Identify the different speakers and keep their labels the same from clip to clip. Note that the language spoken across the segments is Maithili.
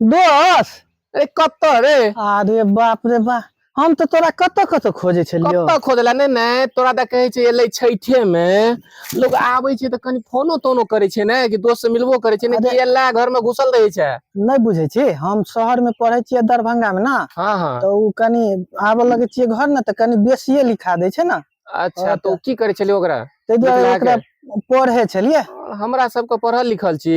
Speaker 1: दस अरे कत रे अरे बाप रे बा हम तो तोरा कत कत खोजे छलियो कत खोजला ने ने तोरा त कहे छै एले छैठे में लोग आबै छै त कनी फोनो तोनो करे छै ने कि दोस्त से मिलबो करे छै ने कि एला घर में घुसल रहे छै नै बुझे छी हम शहर में पढ़े छी दरभंगा में ना हां हां त उ कनी आबे लगे छी घर न त कनी बेसीए लिखा दे छै ना अच्छा तो की करे छलियो ओकरा ते दुआरे ओकरा पढ़े छलिए हमरा सब के पढ़ल लिखल छी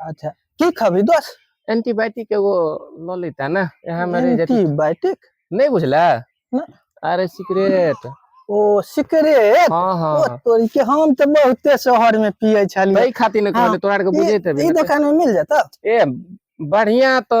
Speaker 1: अच्छा की खबी दोस एंटीबायोटिक एगो ल लेता ना यहाँ मेरे एंटीबायोटिक नहीं बुझला ना अरे सिगरेट ओ सिगरेट हां हां ओ तोरी के हम त बहुते शहर में पिए छली तई खाती न कहले हाँ। तोरा के बुझे त ई दुकान में मिल जाता ए बढ़िया तो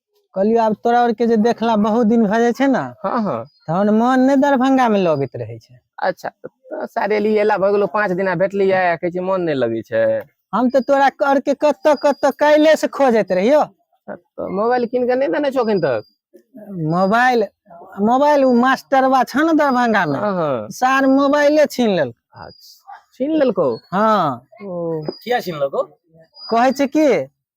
Speaker 1: कहलियो आब तोरा और के जे देखला बहुत दिन भ जाय छै ना हाँ हाँ तहन मन नै दरभंगा में लगैत रहै छै अच्छा तो सारे लिए एला भ गेलो पाँच दिना भेटलिए कहै छै मन नै लगै छै हम तऽ तोरा कर के कत कत काल्हे से खोजैत रहियो तो मोबाइल किन के नै देने छो अखन तक मोबाइल मोबाइल उ मास्टरवा छ न दरभंगा में हाँ हाँ सार मोबाइले छीन लेल अच्छा छीन लेलको हाँ ओ किया छीन लेलको कहै छै कि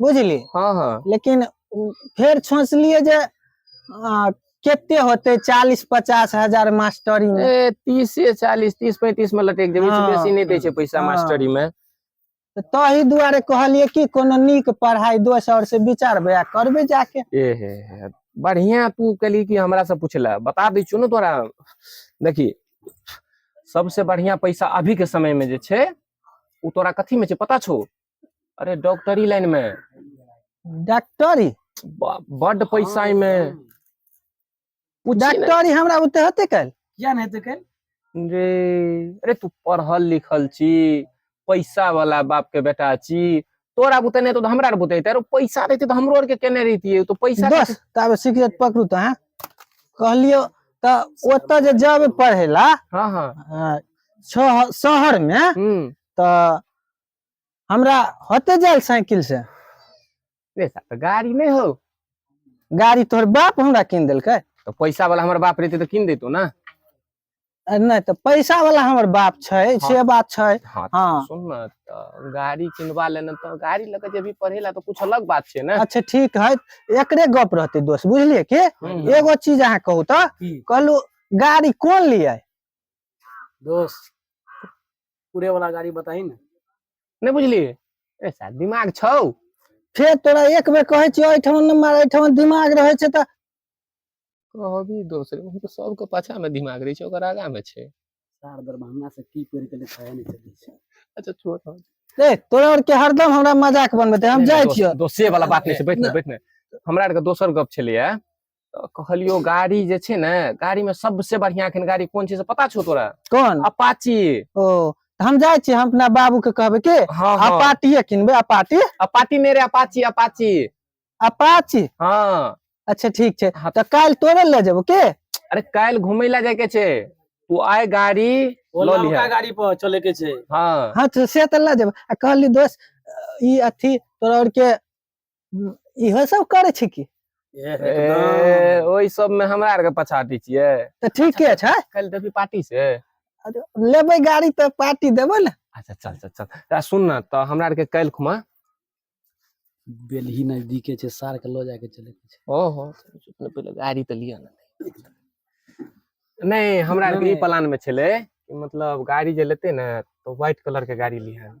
Speaker 1: बुझली हाँ हाँ लेकिन उ- फेर सोचलिए जे आ, केते होते चालीस पचास हजार मास्टरी में ए तीस से चालीस तीस पैंतीस में लटक जेबै हाँ। बेसी नहीं दै छै पैसा हाँ। मास्टरी में तऽ ताहि दुआरे कहलिए कि कोनो नीक पढ़ाई दोस्त और से विचार बया करबे जाके ए हे हे। बढ़िया तू कहली कि हमरा से पूछला बता दै छियौ ने तोरा देखी सबसे बढ़िया पैसा अभी के समय में जे छै उ तोरा कथी में छै पता छौ अरे डॉक्टरी लाइन में डॉक्टरी ब- बड पैसा हाँ, में हाँ। पूछी ना। डॉक्टरी हमरा ओते होते कल किया नहीं तो कल रे अरे तू पढ़ल लिखल छी पैसा वाला बाप के बेटा छी तोरा बुते नहीं तो हमरा बुते तेरो पैसा रहते तो हमरो आर के केने रहती तो पैसा बस रहते- तब सिगरेट पकड़ू तो हाँ कहलियो तो ओतऽ जे जब पढ़े ला हाँ हाँ अ, शह- शहर में हम्म तो हमरा होते जायल साइकिल से पैसा तो गाड़ी नहीं हो गाड़ी तोहर बाप हमरा कीन देलकै तो पैसा वाला हमारे बाप रहते तो किन देतो ना आ नहि तऽ पैसा वाला हमर बाप छै से बात छै हाँ तो हाँ। सुन ना तो गाड़ी किनवा लेना तो गाड़ी लगे जब भी पढ़ेला तो कुछ अलग बात छे ना अच्छा ठीक है एकरे गप रहते दोस्त बुझलिए के हम्म। एगो चीज अहाँ कहू तऽ की कहलू गाड़ी कोन लिए दोस्त पूरे वाला गाड़ी बताही ने नहि बुझली ए साहब दिमाग छौ फेर तोरा एक बेर कहै छियै एहिठाम नहि मार एहिठाम दिमाग रहै छै तऽ कहबी दोसरे हम तऽ सबके पाछा मे दिमाग रहै छै ओकर आगा मे छै सार दरभंगा से की पढ़ि के लिखाए नहीं चलै छै अच्छा छोड़ हम ए तोरा आर के हरदम हमरा मजाक बनबे हम जाइ छियै दोसे वाला बात नहि छै बैठ ने बैठ ने हमरा आर के दोसर गप छलैया कहलियो गाड़ी जे छै ने गाड़ी में सबसे बढ़िया अखन गाड़ी कोन छै से पता छौ तोरा कोन अपाची ओ तऽ हम जाइ छी हम अपना बाबू के कहबै के हाँ हाँ अपाटिए किनबै अपाटी अपाची नहीं रे अपाची अपाची अपाची हाँ अच्छा ठीक छै हाँ। तऽ काल्हि तोरे ले जेबो के अरे काल्हि घूमे ला जाए के छै तू आए गाड़ी वो लो लिहा। लड़का गाड़ी पर चले के छे हाँ हाँ तऽ से तऽ लऽ जेबो आ कहली दोस्त ई अथी तोरा और के इहो सब करे छी की ए, ओहि सब में हमरा आर के पछाटी छियै तऽ ठीके छै कल देबी पार्टी से लेबै गाड़ी तऽ पार्टी देबै ने अच्छा चल चल चल आ सुन ना तऽ हमरा आर के कल खुमा बेलही नजदीके छै सार के लऽ जाके चले के छै ओहो अपने पहिले गाड़ी तऽ लिअ ना नहीं हमरा आर के ई नहीं। प्लान में छले कि मतलब गाड़ी जे लेते ना तो व्हाइट कलर के गाड़ी लिहन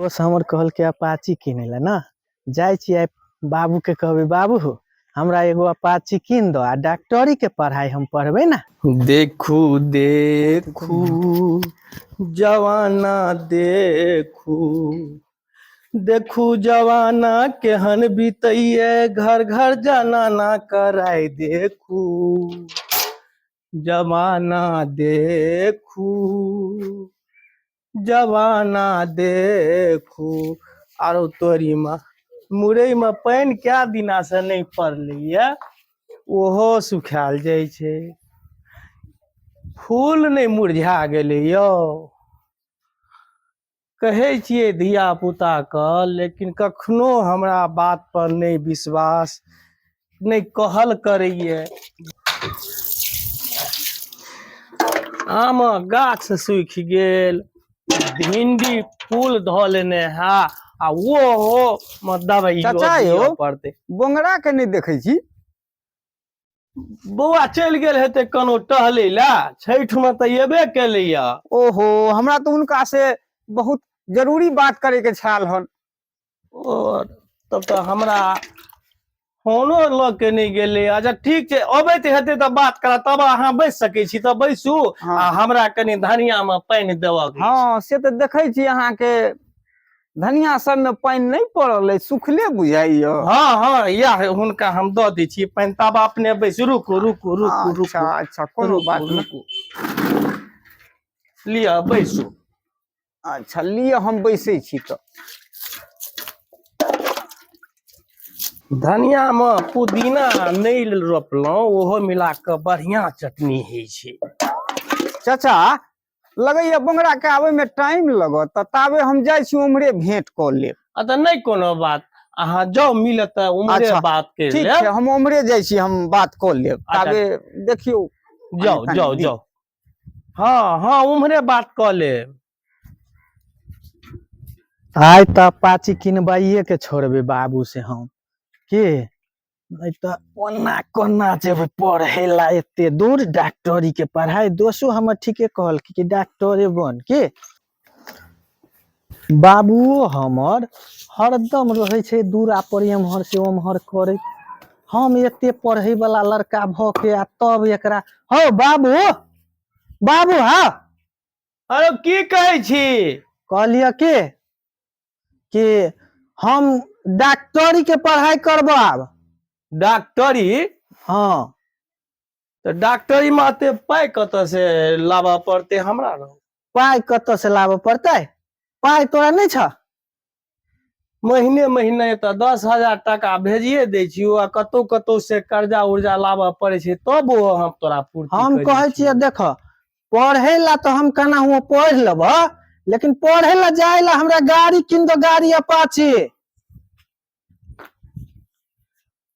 Speaker 1: दोस्त हमर कहलके अपाची किने ला ना जाए छी आइ बाबू के कहबे बाबू हो हमरा एगो अपाची किन दो आ डॉक्टरी के पढ़ाई हम पढ़बे ना देखू देखू जवाना देखू देखू जवाना केहन बीतैये घर घर जनाना कराय देखू जमाना देखू जवाना देखू आरो तोरी में मुरई में पानि कए दिना से नहि पड़लैया ओहो सुखायल जाइ छै फूल नहि मुरझा गेलै यौ कहै छियै धिया पुताके लेकिन कखनो हमरा बात पर नहि विश्वास नहि कहल करैए आमक गाछ सूखि गेल भिंडी फूल धऽ लेने है आ ओहो मे दवाई चाचा यौ। दिअ पड़तै बोंगरा के नहि देखै छी बौआ चलि गेल हेतै कनो टहलै लए छठि मे तऽ एबे केलैया ओहो हमरा तऽ हुनका से बहुत जरूरी बात करे के छल हन ओ तब तऽ हमरा फोनो लऽ के नहि गेलै अच्छा ठीक छै अबैत हेतै तऽ बात करा तब अहाँ बैस सकै छी तऽ बैसू हँ। आ हमरा कनि धनिया मे पानि देबऽ के छै। हँ से तऽ देखै छी अहाँके धनिया सबमे पानि नहि पड़ल अइ सुखले बुझाइए हँ हँ इएह हुनका हम दऽ दै छी पानि तब अपने बैस रुकू रुकू रुकू रुकू अच्छा अच्छा कोनो रुकू, बात नहि रुकू। लिअ बैसू अच्छा लिअ हम बैसै छी तऽ धनियामे पुदीना नहि रोपलहुँ ओहो मिला कऽ बढ़िआँ चटनी होइ छै चाचा लगैया बंगरा के आबे में टाइम लगत तऽ ताबे हम जाइ छी उम्हरे भेंट कऽ लेब आ तऽ नहि कोनो बात अहाँ जाउ मिलत तऽ उम्हरे अच्छा, बात कर ठीक छै लेब हम उम्हरे जाइ छी हम बात कऽ लेब अच्छा। ताबे देखियौ जाउ कनि जाउ दिन। जाउ हँ हँ उम्हरे बात कऽ लेब आइ तऽ अपाची किनबाइए के छोड़बै बाबू से हम की नहि तऽ ओना कोना जेबै पढ़ै ला एते दूर डॉक्टरी के पढ़ाई दोसो हमर ठीके कहलखिन कि डॉक्टरे बन की बाबुओ हमर हरदम रहै छै दूरा पर एम्हर से ओम्हर करैत हम एते पढ़े वाला लड़का भ के आ तब एकरा हौ बाबू बाबू हा अरे की कहै छी कहलिय के कि हम डॉक्टरी के पढ़ाई करब आब डॉक्टरी हँ तऽ डॉक्टरी में एते पाय कतऽ से लाबऽ पड़ते हमरा रहो पाइ कतऽ से लाबऽ पड़तै पाइ तोरा नहि छ महीने महीने एतऽ दस हजार टाका भेजिए दै छियौ आ कतौ कतौ से कर्जा उर्जा लाबऽ पड़ै छै तब ओ हम तोरा पूर्ति हम करै कहै छियै देख पढ़ै लए तऽ हम केना हुआ पढ़ि लेब लेकिन पढ़ै लए जाय लए हमरा गाड़ी कीन दो गाड़ी अपाची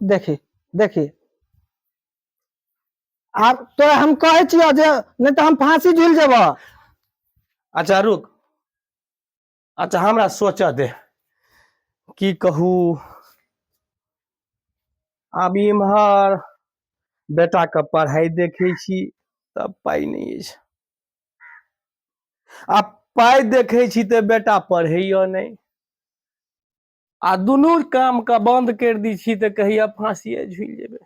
Speaker 1: देखी देखी आब तोरा हम कहै छियौ जे नहि तऽ हम फांसी झूल जेबौ अच्छा रुक अच्छा हमरा सोचऽ दे की कहू आब इम्हर बेटाके पढ़ाइ देखै छी तऽ पाइ नहि अछि आ पाइ देखै छी तऽ बेटा पढ़ैयो नहि आ दुनू काम के बंद कर दी छी तऽ कहिया फांसिए झूल जेबे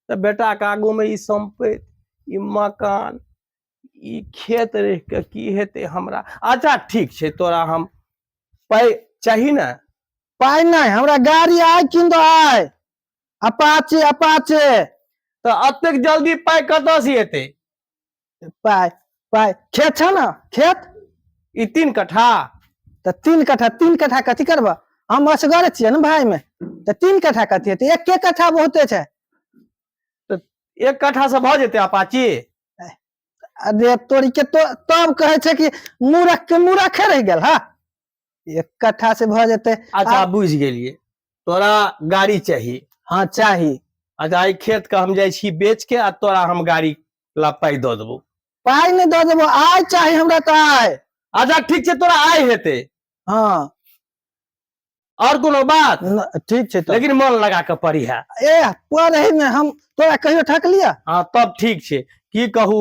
Speaker 1: तऽ बेटा के आगू में ई संपैत ई मकान ई खेत रह के की हेते हमरा अच्छा ठीक छै तोरा हम पाई चाही ने पाई नहीं हमरा गाड़ी आय किन दो आय अपाचे अपाचे तऽ अतेक जल्दी पाई कतऽ से एते पाय पाय खेत छौ ने खेत ई तीन कट्ठा तऽ तीन कट्ठा तीन कट्ठा कथी करबह हम असगर छियै ने भायमे तऽ तीन कट्ठा कथी हेतै एके कट्ठा बहुते छै एक कट्ठा से भऽ जेतै अपाची अरे तोरी के तो तब कहै छै कि मूरख के मूरखे रहि गेल हा एक कट्ठा से भऽ जेतै अच्छा आ- बुझि गेलियै तोरा गाड़ी चाही हँ चाही अच्छा ई खेत के हम जाइ छी बेच के आ तोरा हम गाड़ी ला पाई दऽ देबो पाइ नहि दऽ देबो आइ चाही हमरा तऽ आइ अच्छा ठीक छै तोरा आइ हेते हँ और कोनो बात न- ठीक छै तऽ लेकिन मन लगा के पढ़ी है ए पढ़े मे हम तोरा कहियो ठकलिया हाँ तब ठीक छै की कहू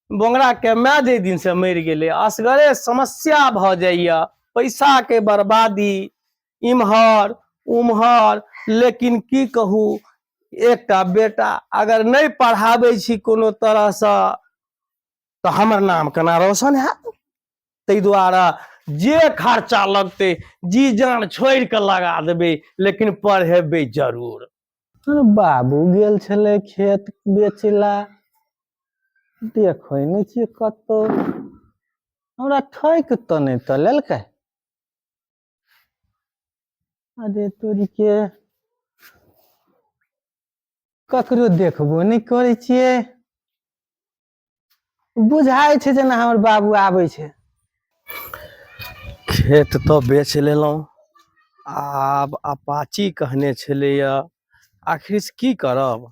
Speaker 1: बोंगरा के माय जे दिन से मरि गेलै असगरे समस्या भऽ जाइया पैसा के बर्बादी इम्हर उम्हर लेकिन की कहू एकटा बेटा अगर नहीं पढ़ाबे छी कोनो तरह से तो हमर नाम केना रोशन है ते द्वारा जे खर्चा लगते जी जान छोड़ के लगा देबे लेकिन पढ़ेबे जरूर बाबू गेल छले खेत बेचला देखो नहीं छी कत हमरा ठक तो नहीं तो लेलकै अरे तोरी के ककरो देखबो नहि करै छियै बुझाइ छै जेना हमर बाबू आबै छै खेत तऽ बेच लेलहुँ आब अपाची कहने छलैए आखिर की करब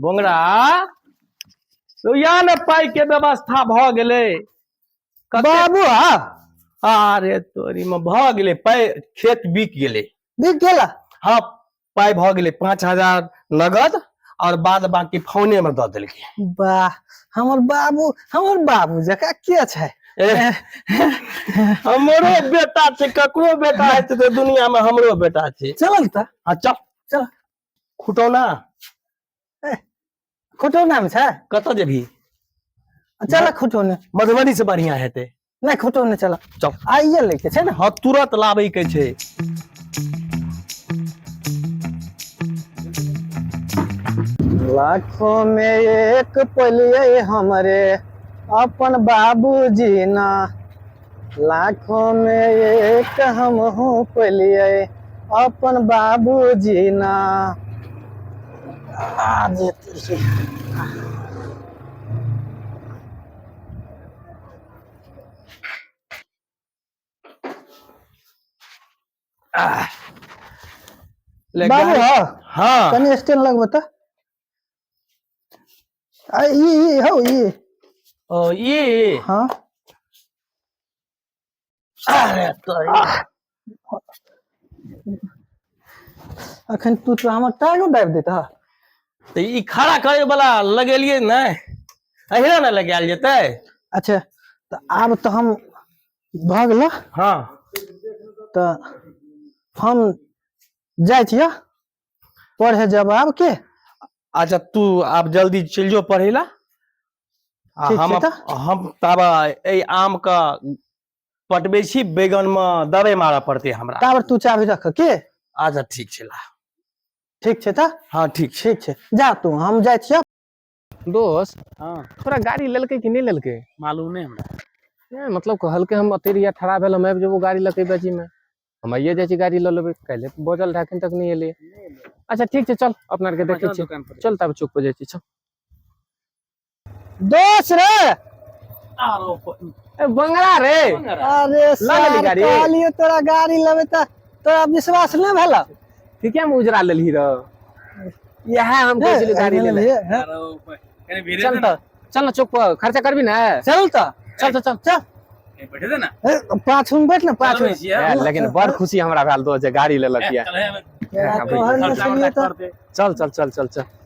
Speaker 1: बोंगरा तो यहाँ ने पाई के व्यवस्था भ गेले कते- बाबू हा अरे तोरी में भ गेले पाई खेत बिक गेले बिक गेला हाँ पाई भ गेले पाँच हजार नगद और बाद बाकी फोने में द देलके वाह हमर बाबू हमर बाबू जका के छै एह, हमरो बेटा छै ककरो बेटा हेतै तऽ दुनिया में हमरो बेटा छै चल त हाँ चल चल खुटौना खुटौना में छै कतऽ जेबही चल खुटौना मधुबनी से बढ़िया हेतै नहीं खुटौना चल चल आइए लेके छै ना हाँ तुरंत लाबे के छै लाखों में एक पलिए हमरे अपन बाबूजी ना लाखो मे एक हमहु पलियै अपन बाबू जीना आ जे बाबू हँ हँ कनि स्टैंड लगबऽ तऽ आ ई ई हौ ई ओ ई हाँ अरे तोरी अखन तू तो हमर टांगो दाबि देता तऽ ई खड़ा करे वाला लगेलिए ने अहिना ने लगायल जेतै अच्छा तऽ आब तऽ हम भऽ गेल हाँ तऽ हम जाइ छियै पढ़े जब आब के अच्छा तू आब जल्दी चलि जो पढ़े ला आ ठीक हम छै अप- तऽ। हम तब एहि आम के पटबै छी बैगन मे दवाई मारऽ पड़तै हमरा ताबर तू चाबी रख के अच्छा ठीक छै ला ठीक छै तऽ हँ ठीक छै ठीक छै जा तू हम जाइ छियौ दोस्त हँ तोरा गाड़ी लेलकै कि नहि लेलकै मालूम नहि हमरा नहि मतलब कहलकै हम अतै रहियै ठड़ा भेल हम आबि जेबौ गाड़ी लऽके बेचीमे हम आइए जाइ छी गाड़ी लऽ लेबै काल्हि बजल रहै एखन तक नहि एलै अच्छा ठीक छै चल अपना आरके देखै छियै दोकान पर चल तब चौक पर जाइ छी चल दोस्त रे आरो ए, बंगला रे अरे लेली सार गाड़ी? कहलियो तोरा गाड़ी लेबे त तोरा विश्वास नहि भेलक ठीके में उजरा लेलही रह इएह हम कहै छलियै गाड़ी ले ले चल तऽ चल ने चौक पर खर्चा करबी ने चल तऽ चल चल चल चल बैठे दे ना पाँच में बैठ ना पाँच में लेकिन बड़ खुशी हमरा भेल दोस्त जे गाड़ी लेलक ये चल चल चल चल चल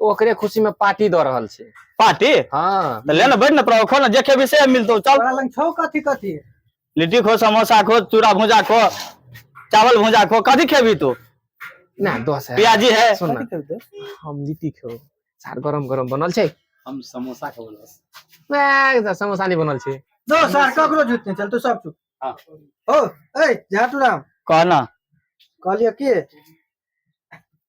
Speaker 1: ओकरे खुशी में पार्टी दऽ रहल छै पार्टी हाँ तऽ ले ने बैठ ने प्रभु खो ने जे खेबी से मिलतौ चल तोरा लग छौ कथी कथी लिट्टी खो समोसा खो चूड़ा भुजा खो चावल भुजा खो कथी खेबी तू ना दस है प्याजी है सुन ना कथी खेबही? हम लिट्टी खेबो सार गरम गरम बनल छै हम समोसा के बोलस ए, तऽ समोसा नहीं बनल छै दो सार ककरो झूठ नहीं चल तू सब चुप हाँ। ओ ए झाटू राम कहना कहलियो की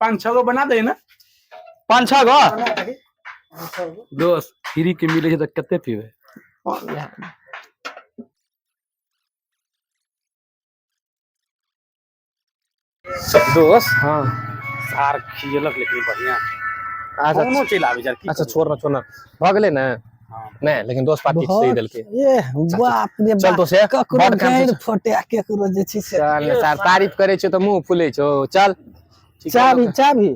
Speaker 1: पाँच छः गो बना दे ना पाँच छः गो दोस्त फ्री के मिले तो कते पीबे दोस्त हाँ सार खियलक लेकिन बढ़िया अच्छा कोनो चलि आबे जर अच्छा छोड़ ना छोड़ ना भगले ना नै लेकिन दोस्त पार्टी सही देलके ए बाप रे चल तो से ककरो गैर फोटे आ केकरो जे छी से चल ने सर तारीफ करे छ त मुंह फुले छो चल चाबी चाबी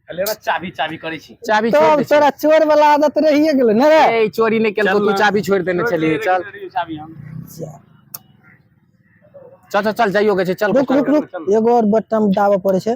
Speaker 1: लेना चाबी चाबी करे छी चाबी छोड़ दे तोरा चोर वाला आदत रहिए गेल न रे ए चोरी नै केल तू चाबी छोड़ देने चली चल चाबी हम चल चल चल जाइयो के चल रुक रुक रुक एगो और बटन दाबा पड़े छै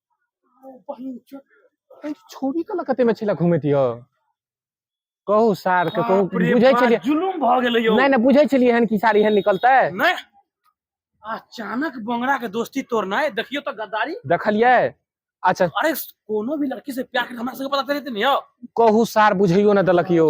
Speaker 1: छोरी के कते में छला घुमैत यौ कहू सार के कहू बुझै छलियै जुलुम भ गेलै यौ नै नै बुझै छलियै हन कि सार एहन निकलतै नै अचानक बंगड़ा के दोस्ती तोड़नाय देखियो त गद्दारी देखलियै अच्छा अरे कोनो भी लड़की से प्यार के हमरा सब पता चलैत नै यौ कहू सार बुझैयो न देलक यौ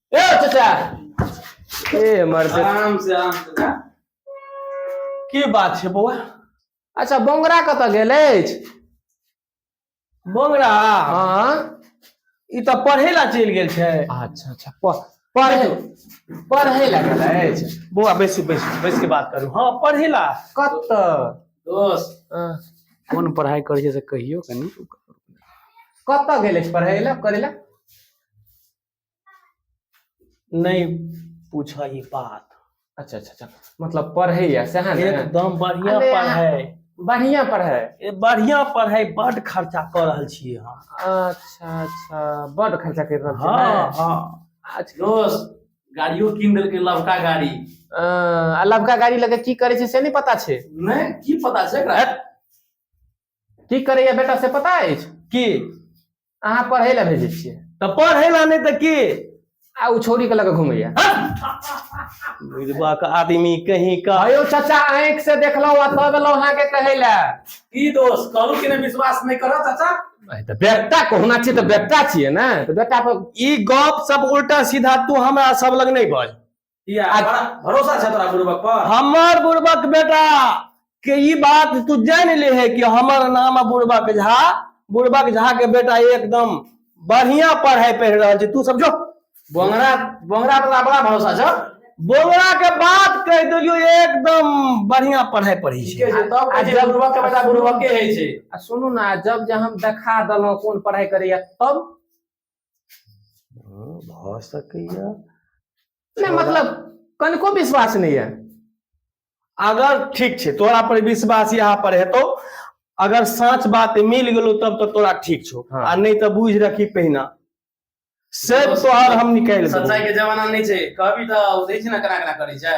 Speaker 1: ए चाचा ए मरते आराम से आराम से जा। की बात छै बौआ अच्छा बोंगरा कतऽ गेल अछि बोंगरा हाँ ई तऽ पढ़े ला चलि गेल छै अच्छा अच्छा प- पढ़े पढ़े ला गेल अछि बौआ बैसू बैसू बैस के बात करू हाँ पढ़े ला कतऽ दोस्त हाँ, कोन पढ़ाई करै छै से कहियो कनी कतऽ गेल अछि पढ़े ला करे ला नहीं पूछा ही बात अच्छा अच्छा अच्छा मतलब पढ़े या सह ने एकदम बढ़िया अरे, पढ़े बढ़िया पढ़े ए बढ़िया पढ़े बड खर्चा कर रहल छी हम अच्छा अच्छा बड खर्चा कर रहल छी हां हां अच्छा दोस्त गाड़ियो किन देलकै लवका गाड़ी आ लवका गाड़ी लगे की करे छै से नहीं पता छै नहीं की पता छै एकरा की करे या बेटा से पता अछि की अहाँ पढ़ै लए भेजै छियै तऽ पढ़ै लए नहि तऽ की आ ओ छोरी के लऽ कऽ घुमैया बुझबा के आदमी कहीं का अयो चाचा आँखि से देखलहुँ आ तब एलहुँ अहाँके कहै लए की दोष कहलू कि ने विश्वास नहि करत चाचा अरे तऽ बेटा कहना छियै तऽ बेटा छियै ने तऽ बेटा पर ई गप सब उल्टा सीधा तू हमरा सब लग नहीं बज भरोसा छै तोरा बुड़बक पर हमर बुड़बक बेटा के ई बात तू जान ले है कि हमर नाम बुड़बक झा बुड़बक झा के बेटा एकदम बढ़िया पढ़ाई पढ़ रहा है तू समझो बोंगरा बोंगरा पर बड़ा भरोसा छ बोंगरा के बात कह दियो एकदम बढ़िया पढ़ाई पढ़ी छै तब आ जब बुड़बक के बेटा बुड़बक के है छै आ सुनू ना जब जे हम देखा दलो कौन पढ़ाई करैया तब भऽ सकैया नहि मतलब कनिको विश्वास नहि यऽ अगर ठीक छै तोरा पर विश्वास यहाँ पर हेतौ अगर साँच बात मिल गेलो तब तो तोरा ठीक छो हाँ। आ नहीं तो बुझ रखी पहिना से तोहर हम निकाल सच्चाई के जमाना नहीं छै कहबी तो देख ना कना कना करे छै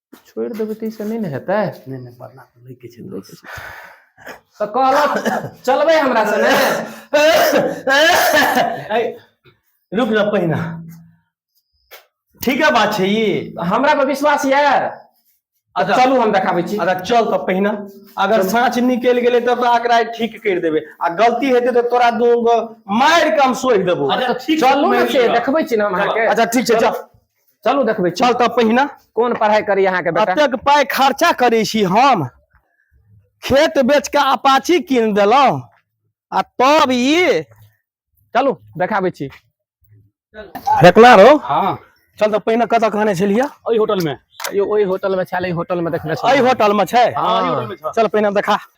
Speaker 1: छोड़ि देबै तऽ ईसभ नहि ने हेतै नहि नहि पढ़ना तऽ लैके छै दोस्त तऽ कहलक चलबै हमरा से ने ऐ, रुक न पहिना ठीके बात छै ई हमरा पर विश्वास यऽ अच्छा। चलू हम देखाबै छी अगर चल तऽ पहिना अगर साँच निकल गेलै तब तऽ आकरा ठीक कर देबे आ गलती हेतै तऽ तोरा दू गो मार के हम सोहि देबो अच्छा, ठीक छै, चलू ने मानि से लिअ। देखबै छी ने हम अहाँके अच्छा ठीक छै चल चलू देखबै चल तऽ पहिने कोन पढ़ाई करी अहाँके बेटा एतेक पाइ खर्चा करै छी हम खेत बेच के अपाची कीन देलहुँ आ तब ई चलू देखाबै छी फेकला रहो हाँ चल तऽ पहिने कतऽ कहने छलियै ओहि होटल में यो ओहि होटल में छल एहि होटल में देखने एहि छल होटल मे छै हाँ, एहि होटल में छल। चल पहिने देखा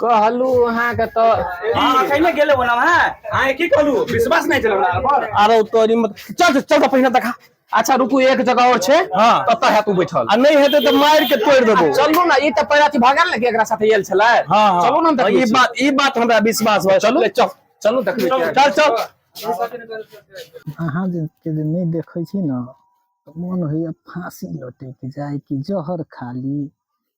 Speaker 1: कहलु अहाँके तऽ हँ कहि गेल बो ह की कहलु विश्वास नहि आरो तोरी मत चल चल त पहिने देखा अच्छा रुकू एक जगह आओर छै कतऽ हयत ओ बैठल आ नहि हेतै तऽ मारि के तोड़ि देबो चलू ने ई तऽ पहिला अथी भगल ने एकरा साथे आयल छले चलू ने ई बात ई बात हमरा विश्वास भऽ चलू चल चलू देखबै चल चल अहाँ जे नहि देखै छी ने मन होइए फाँसी लौटैके जाय कि जहर खाली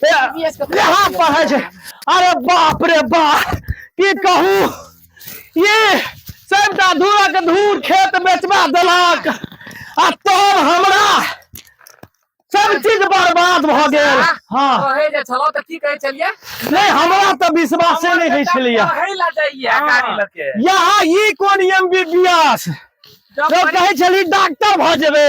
Speaker 1: यहाँ पर है अरे बाप रे बाप की कहू ये सबटा धूरक धूर खेत बेचवा देलक आ तब हमरा सब चीज बर्बाद भ गेल हाँ कहे जे छलो त की कहे छलिए नहीं हमरा तो विश्वास नहीं है छलिए कहे ला जाइए हाँ। गाड़ी लके यहाँ ई कोन एमबीबीएस जब कहे छली डॉक्टर भ जेबे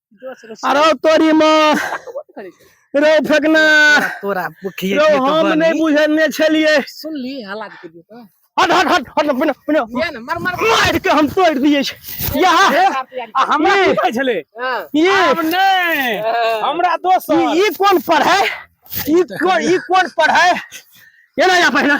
Speaker 1: अरे तोरी माँ रो फेकना तोरा बुखिए रो हम नहीं बुझने छलिए सुन ली हालात के दियो तो हट हट हट हट बिना बिना ये ना मर मर मार के हम तोड़ दिए छ यहां हमरा की कहै छले हाँ। ये हम नहीं हाँ। हमरा दोस्त ई कोन पर है ई कोन ई कोन पर है ये ना या पहिना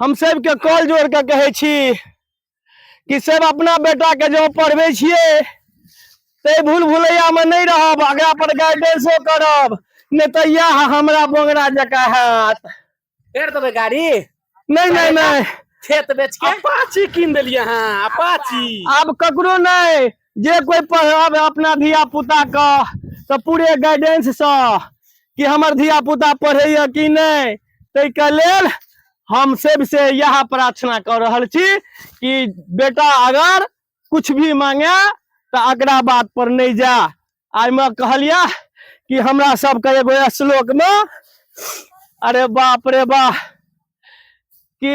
Speaker 1: हम सबके कॉल जोड़ के कहे छी कि सब अपना बेटा के जो पढ़बे छिए ते भूल भुलैया में नहीं रहब अगला पर गाइडेंसो करब नहीं तो यह हमरा बोंगरा जका हाथ फेर देबै गाड़ी नहीं नहीं नहीं खेत बेच के अपाची कीन देलियै अहाँ अपाची आब ककरो नहीं जे कोई पढ़ब अपना धिया पुता के तऽ पूरे गाइडेंस से कि हमर धिया पुता पढ़ैया कि नहि ताहि के लेल हम सब से यह प्रार्थना कर रहल छी कि बेटा अगर कुछ भी मांगे तऽ अकरा बात पर नहि जा आइ में कहलिया कि हमरा सबके एगो श्लोक में अरे बाप रे बाप कि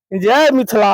Speaker 1: जय मिथिला